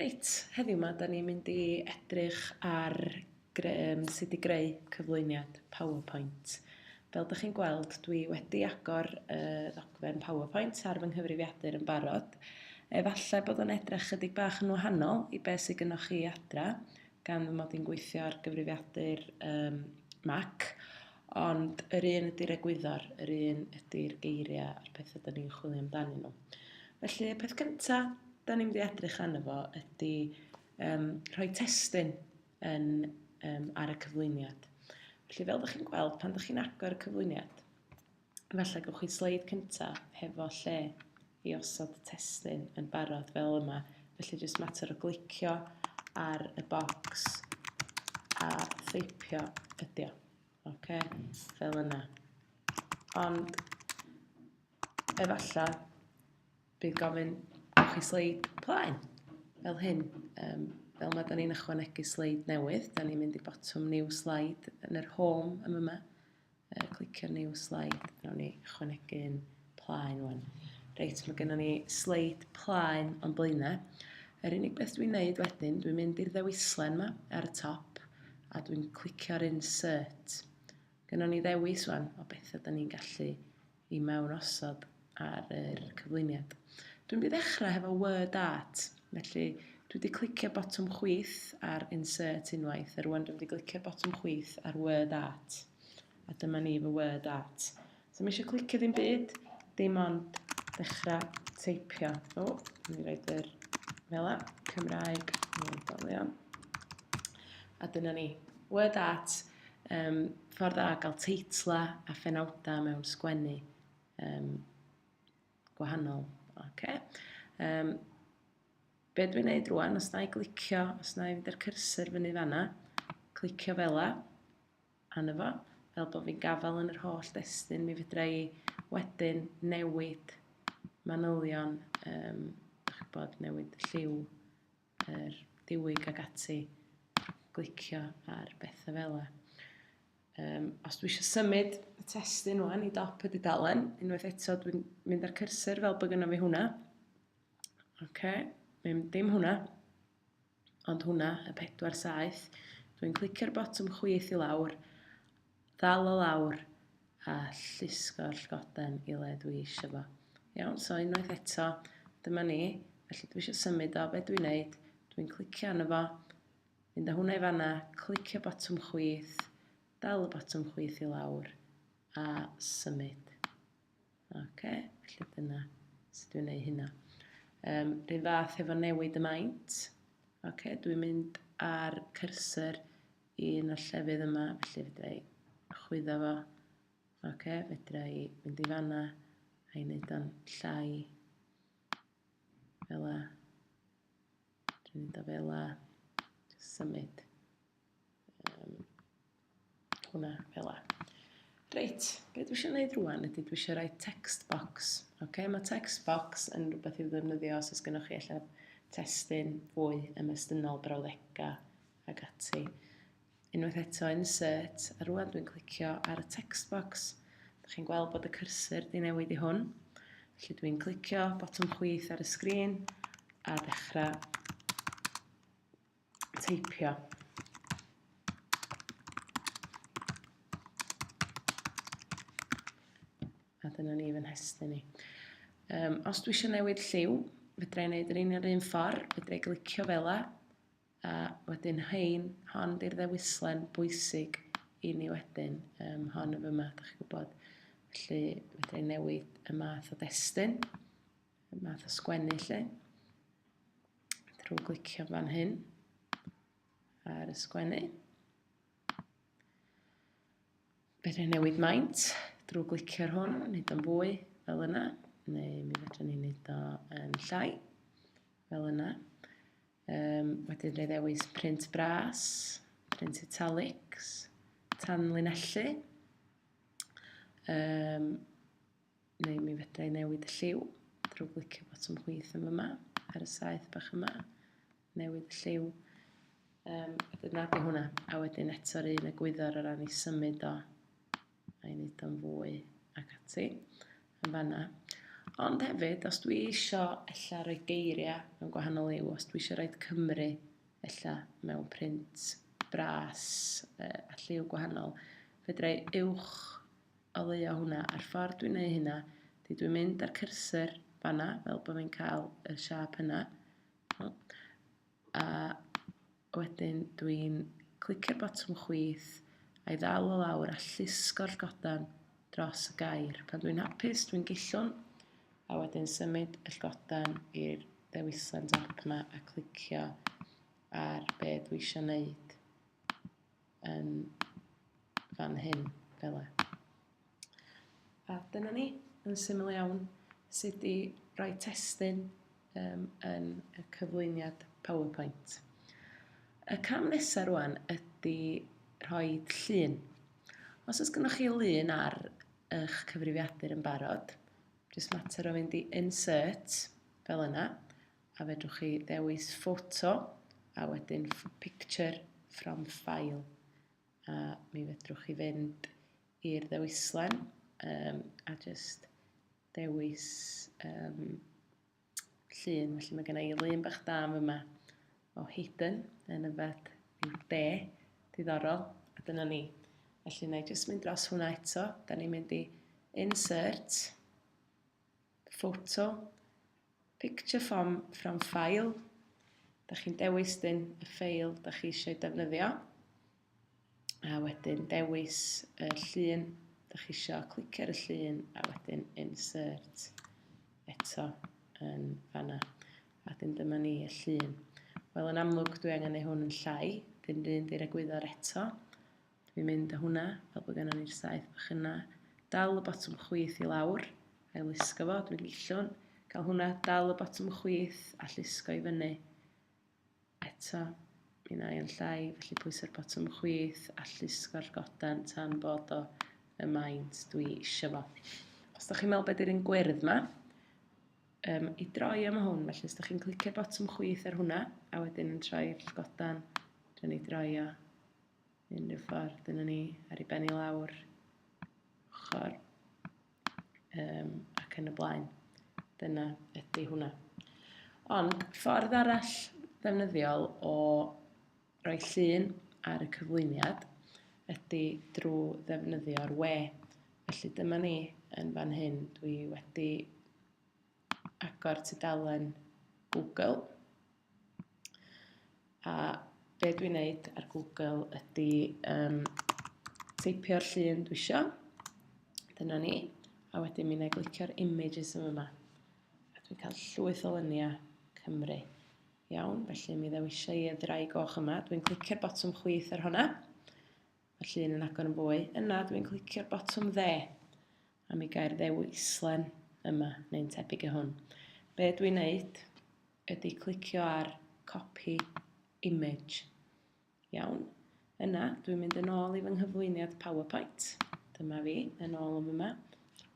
Reit, heddiw 'ma dan ni'n mynd i edrych ar gre- yym sut i greu cyflwyniad PowerPoint. Fel dach chi'n gweld, dwi wedi agor y ddogfen PowerPoint ar fy nghyfrifiadur yn barod. Efallai bod o'n edrych 'chydig bach yn wahanol i be' sy gynnoch chi adra, gan fy mod i'n gweithio ar gyfrifiadur um, Mac, ond yr un ydy'r egwyddor, yr un ydy'r geiriau a'r pethau da ni'n chwilio amdanyn nhw. Felly, y peth cyntaf da ni'n mynd i edrych arno fo ydy um, rhoi testyn yn, um, ar y cyflwyniad. Felly, fel ydych chi'n gweld, pan ydych chi'n agor y cyflwyniad, Felly, gwnewch chi sleid cyntaf hefo lle i osod testun yn barod fel yma. Felly, jyst mater o glicio ar y bocs a theipio ydi o. Ok, fel yna. Ond, efallai, bydd gofyn gwnewch chi sleid plaen, fel hyn. Um, fel yma, da ni'n ychwanegu sleid newydd. Da ni'n mynd i botwm new slide yn yr home am yma. Yy, clicio new slide. Nawr ni ychwanegu un plaen wan. Reit, mae gennym ni sleid plaen o'n blaenau. Yr unig beth dwi'n neud wedyn, dwi'n mynd i'r ddewislen yma ar y top a dwi'n clicio'r insert. Gynnon ni ddewis wan o beth ydyn ni'n gallu i mewn osod ar yr cyflwyniad. Dwi'n mynd i ddechrau hefo word art, felly dwi wedi clicio botwm chwyth ar insert unwaith, a rwan dwi'n mynd i glicio botwm chwyth ar word art. A dyma ni fy word art. So mi eisiau clicio ddim byd, dim ond dechrau teipio. O, mi roed yr fela, Cymraeg, Moedolion. A dyna ni, word art, Yym, ffordd dda o gael teitla a phenawdau mewn sgwennu um, gwahanol. Okay. Um, be dwi'n neud rwan, os na i glicio, os na i fynd i'r cursor fyny fanna, clicio fel la, anna fo, fel bod fi'n gafael yn yr holl destyn, mi fydra i wedyn newid manylion, um, bod, newid lliw, yr diwyg ac ati, glicio ar bethau fel yna. Um, os dwi eisiau symud y testyn nhw'n i dop y dudalen, unwaith eto dwi'n mynd â'r cursor fel bod gynnaf fi hwnna. Oce, okay. ddim, dim hwnna, ond hwnna, y pedwar saeth. Dwi'n clicio'r botwm chwith i lawr, ddal o lawr a llusgo'r llgoden i le dwi eisiau fo. Iawn, so unwaith eto, dyma ni. Felly dwi eisiau symud o, be dwi'n neud? Dwi'n clicio arno fo, mynd â hwnna i fanna, clicio botwm chwith, dal y botwm chwith i lawr, a symud. OK, felly dyna sut dwi'n neud hynna. Um, rhywun fath efo newid y maint. OK, dwi'n mynd ar cursor i un o'r llefydd yma, felly fedra i chwyddo fo. Ok, fedra i fynd i fanna a'i wneud o'n llai fel la. Dwi'n mynd o fel la, just symud um, hwnna fel la. Reit, be dwi eisiau gwneud rwan ydy dwi eisiau rhoi text box. Okay? Mae text box yn rhywbeth i'w ddefnyddio os oes gennych chi allan testyn fwy ymestynol brawddegau ac ati. Unwaith eto, insert, a rwan dwi'n clicio ar y text box. Dych chi'n gweld bod y cursor di newid i hwn. Felly dwi'n clicio botwm chwith ar y sgrin a dechrau teipio. A dyna ni fy nhestyn ni. Um, os dwi eisiau newid lliw, fedra i wneud yr un yr un ffordd, fedra i glicio fel la, A wedyn hein, hon di'r ddewislen bwysig i ni wedyn, um, hon yn fyma, da chi'n gwybod. Felly, fedra i newid y math o destyn, y math o sgwennu lle, drwy glicio fan hyn ar y sgwennu. Fedra i newid maint drwy glicio ar hwn, wneud o'n fwy fel yna, neu mi fedra ni wneud o'n llai fel yna. Um, wedyn rhaid ddewis print bras, print italics, tanlinellu. Um, neu mi fedra i newid y lliw drwy glicio botwm chwith yma yma ar y saeth bach yma. Newid y lliw. Um, wedyn nad yw hwnna. A wedyn eto'r un y gwyddor o ran i symud o a i wneud o'n fwy ac ati yn fanna. Ond hefyd, os dwi eisiau ella rhoi geiriau mewn gwahanol liw, os dwi eisiau rhoi Cymru ella mewn print bras uh, a lliw gwahanol, fedra i uwch oleuo hwnna. A'r ffordd dwi'n neud hynna, di dwi'n mynd â'r cursor fanna, fel bod fi'n cael y siap hynna. A Wedyn dwi'n clicio'r botwm chwith a'i ddal o lawr a llusgo'r llygoden dros y gair. Pan dwi'n hapus, dwi'n gillwn a wedyn symud y llygoden i'r ddewislen dop yma a clicio ar be dwi eisiau wneud. yn fan hyn, fel e. A dyna ni, yn syml iawn, sut i roi testyn um, yn y cyflwyniad PowerPoint. Y cam nesaf rwan ydy rhoi llun. Os oes gennych chi lun ar eich cyfrifiadur yn barod, jyst mater o fynd i insert fel yna, A fedrwch chi ddewis ffoto a wedyn picture from file. A mi fedrwch chi fynd i'r ddewislen um, a just dewis um, llun. Felly mae gen i lun bach da yma o Hayden yn yfed i'w de, diddorol, a dyna ni. Felly na i jyst mynd dros hwnna eto. Da ni'n mynd i insert, Photo, Picture from, from File. Da chi'n dewis dyn y ffeil da chi eisiau defnyddio. A wedyn dewis y llun da chi eisiau clicio ar y llun a wedyn insert eto yn fanna. A dyn dyma ni y llun. Wel, yn amlwg dwi angen ei hwn yn llai, dyn rhywun di'r egwyddor eto. Dwi'n mynd â hwnna, fel bod gennym ni'r saeth bach yna. Dal y botwm chwith i lawr, a'i lusgo fo, dwi'n gillwn. Cael hwnna, dal y botwm chwith a llusgo i fyny. Eto, mi na i yn llai, felly pwysau'r botwm chwith a llusgo'r goden tan bod o y maint dwi eisiau fo. Os da chi'n meddwl beth yw'r un gwyrdd yma, um, i droi am hwn, felly os da chi'n clicio'r botwm chwith ar hwnna, a wedyn yn troi'r godan, dyn ni droio Unrhyw ffordd, dyna ni, ar ei ben i lawr, ochr, um, ac yn y blaen. Dyna ydy hwnna. Ond ffordd arall ddefnyddiol o roi llun ar y cyflwyniad ydy drwy ddefnyddio'r we. Felly dyma ni yn fan hyn. Dwi wedi agor tudalen Google. A be dwi'n neud ar Google ydy um, teipio'r llun dwi isio. Dyna ni. A wedyn mi wna glicio'r images yma yma. A dwi'n cael llwyth o lyniau Cymru. Iawn, felly mi ddewisio i y ddrai goch yma. Dwi'n clicio'r botwm chwith ar hwnna. Mae'r llun yn agor yn fwy. Yna, dwi'n clicio'r botwm dde, a mi gair ddewislen yma, neu'n tebyg i hwn. Be dwi'n neud ydy clicio ar copy image. Iawn. Yna, dwi'n mynd yn ôl i fy nghyflwyniad PowerPoint. Dyma fi, yn ôl yn yma.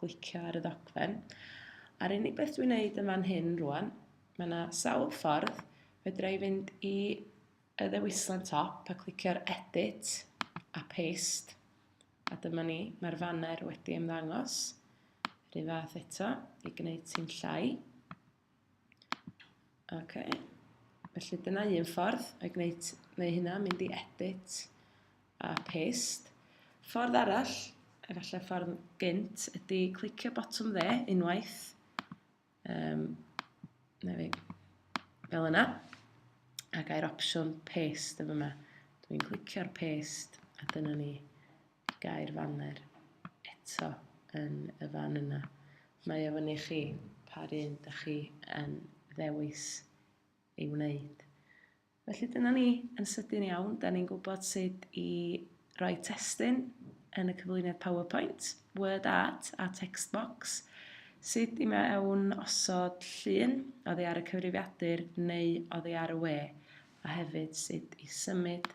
Glicio ar y ddogfen. A'r unig beth dwi'n neud yn fan hyn rwan, mae yna sawl ffordd fedra i fynd i y ddewislen top a clicio ar edit a paste. A dyma ni, mae'r faner wedi ymddangos. Rhyw fath eto, i gwneud ti'n llai. Ok. Felly dyna un ffordd o'i gwneud, neu hynna, mynd i edit a paste. Ffordd arall, efallai ffordd gynt, ydy clicio botwm dde unwaith, Um, na fi. Fel yna. A gair opsiwn paste yma. Dwi'n clicio'r paste a dyna ni gair fanner eto yn y fan yna. Mae o fyny chi pa un da chi yn ddewis ei wneud. Felly dyna ni, yn sydyn iawn, da ni'n gwybod sut i roi testyn yn y cyflwyniad PowerPoint, word art a text box, sut i mewn osod llun oddi ar y cyfrifiadur neu oddi ar y we, a hefyd sut i symud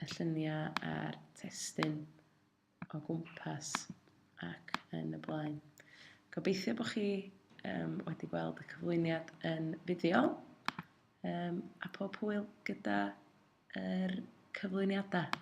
y lluniau a'r testyn o gwmpas ac yn y blaen. Gobeithio bod chi um, wedi gweld y cyflwyniad yn fideo um, a pob hwyl gyda'r er cyflwyniadau.